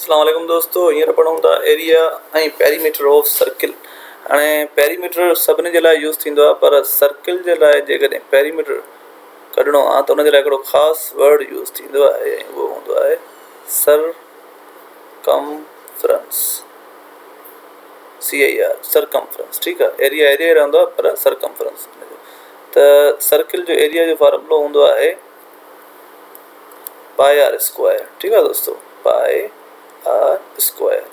اسلام عليڪم دوستو هينئر پڙهون ٿا ايريا ۽ پيريميٽر آف سرڪل هاڻي پيريميٽر سڀني جي لاء يوز ٿيندو آهي پر سرڪل جي لاء جيڪڏهن پيريميٽر ڪڍڻو آهي ته ان جي لاء هڪڙو خاص ورڊ يوز ٿيندو آهي ۽ اهو هوندو آهي سر ڪمفرنس سي اي آر سرڪمفرنس ٺيڪ آهي ايريا ايريا ئي رهندو آهي پر سرڪمفرنس ته سرڪل جو ايريا جو فارمولو هوندو آهي پائي آر اسڪوائر ٺيڪ آ دوستو پائي آر اسڪوائر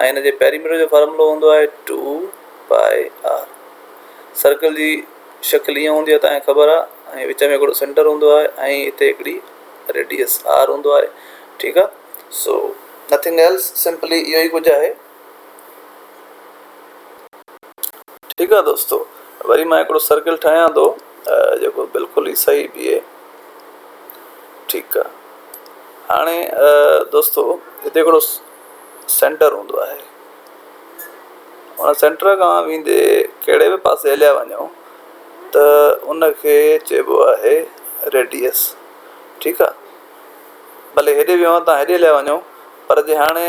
۽ ان جي پيريميٽر جو فارمولو هوندو آهي ٽو پائي آر سرڪل جي شڪل ائين هوندي آهي تانکي خبر آ ۽ وچ ۾ هڪڙو سينٽر هوندو آهي ۽ هتي هڪڙي ريڊيس آر هوندو آهي ٺيڪ آ سو نٿنگ ايلس سمپلي اهو ئي ڪجهه آهي ٺيڪ آ دوستو وري مان هڪڙو سرڪل ٺاهيان ٿو جيڪو بلڪل ئي صحيح بيهي ٺيڪ آ هاڻي دوستو هتي هڪڙو سينٽر هوندو آهي ان سينٽر کان ويندي ڪهڙي به پاسي هليا وڃو ته ان کي چئبو آهي ريڊيس ٺيڪ آ ڀلي هيڏي ويو آ تان هيڏي هليا وڃو پر جي هاڻي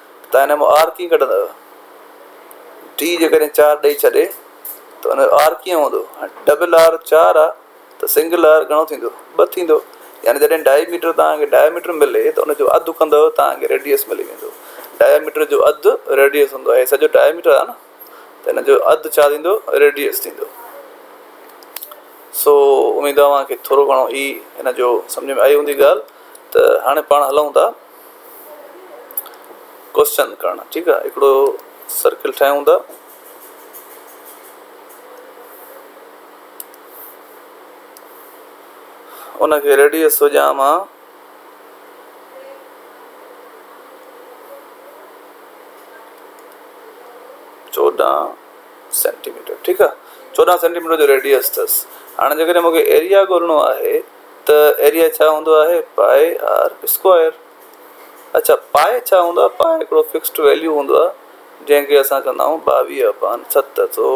تان هن ۾ آر ڪيئن ڪڍندؤ؟ ڊي جيڪڏهن چار ڏئي ڇڏي ته ان جو آر ڪيئن هوندو؟ ڊبل آر چار آهي ته سنگل آر گهڻو ٿيندو؟ ٻه ٿيندو. يعني جڏهن ڊائي ميٽر توهان کي ڊائي ميٽر ملي ته ان جو اڌ ڪندؤ توهان کي ريڊيس ملي ويندو. ڊائي ميٽر جو اڌ ريڊيس هوندو آهي. هي سڄو ڊائي ميٽر آهي نه ته ان جو اڌ ڇا ٿيندو؟ ريڊيس ٿيندو. سو اميد اوهان کي ٿورو گهڻو هي هن جو سمجهه ۾ آئي هوندي ڳالهه ته هاڻي پاڻ هلون ٿا. ڪوشچن ڪرڻ ٺيڪ آ هڪڙو سرڪل ٺاهيون ٿا. ان کي ريڊيس هجان مان چوڏهن سينٽيميٽر ٺيڪ آ چوڏهن سينٽيميٽر جو ريڊيس اٿس هاڻي جيڪڏهن مونکي ايريا ڳولڻو آهي. ته ايريا ڇا هوندو آهي؟ پائي آر اسڪوائر. اڇا پائي ڇا هوندو آهي؟ پائي هڪڙو فڪسڊ ويليو هوندو آهي جنهن کي اسان چوندا آهيون ٻاويهه اپان ست سو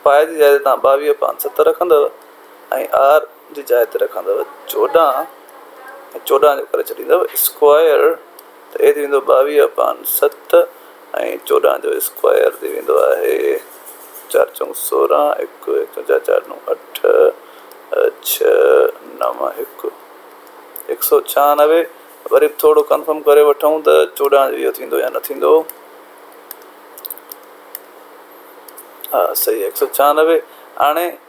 پائي جي جاء تي توهان ٻاويهه اپان ست رکندؤ ۽ آر جي جاء تي رکندؤ چوڏهن ۽ چوڏهن جو ڪري ڇڏيندؤ اسڪوائر. ته اهي ٿي ويندو ٻاويهه اپان ست ۽ چوڏهن جو اسڪوائر ٿي ويندو آهي چار چونگ سورهن هڪ هڪ جا چار نو اٺ ڇهه نو هڪ هڪ سؤ ڇهانوي وري به ٿورو ڪنفرم ڪري وٺون ته چوڏهن جو اهو ٿيندو يا نه ٿيندو ها صحيح هڪ سؤ ڇهانوي هاڻي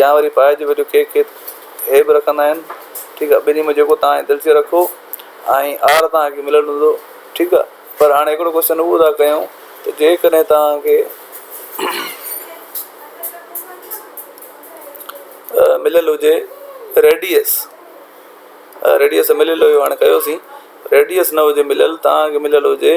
يا وري پائي جي ويجهو ڪيڪ کي هي به رکندا آهن ٺيڪ آهي ٻنهي ۾ جيڪو تان جي دلچي رکو ۽ آهر تان کي مليل هوندو ٺيڪ آهي پر هاڻي هڪڙو ڪوشچن اهو ٿا ڪيون ته جيڪڏهن تان کي مليل هجي ريڊيس ريڊيس مليل هيو هاڻي ڪيوسين ريڊيس نه هجي مليل تان کي مليل هجي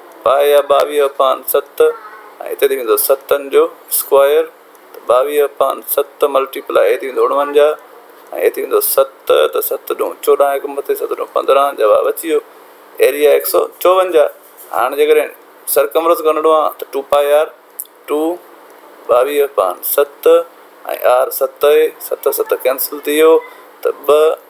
پاء يا ٻاويهه اپان ست ۽ اتي ٿي ويندو ستن جو اسڪوائر ته ٻاويهه اپان ست ملٽي پلائي هي ٿي ويندو اڻونجاهه ۽ هي ٿي ويندو ست ته ست ڏون چوڏهن هڪ مٿي ست ڏون پندرهن جواب اچي ويو ايريا هڪ سؤ چوونجاهه هاڻ جيڪڏهن سرڪمرس ڳڻڻو آ ته ٽو پاء آر ٽو ٻاويهه اپان ست ۽ آر ست اهي ست ست ڪينسل ٿي ويو ته ٻه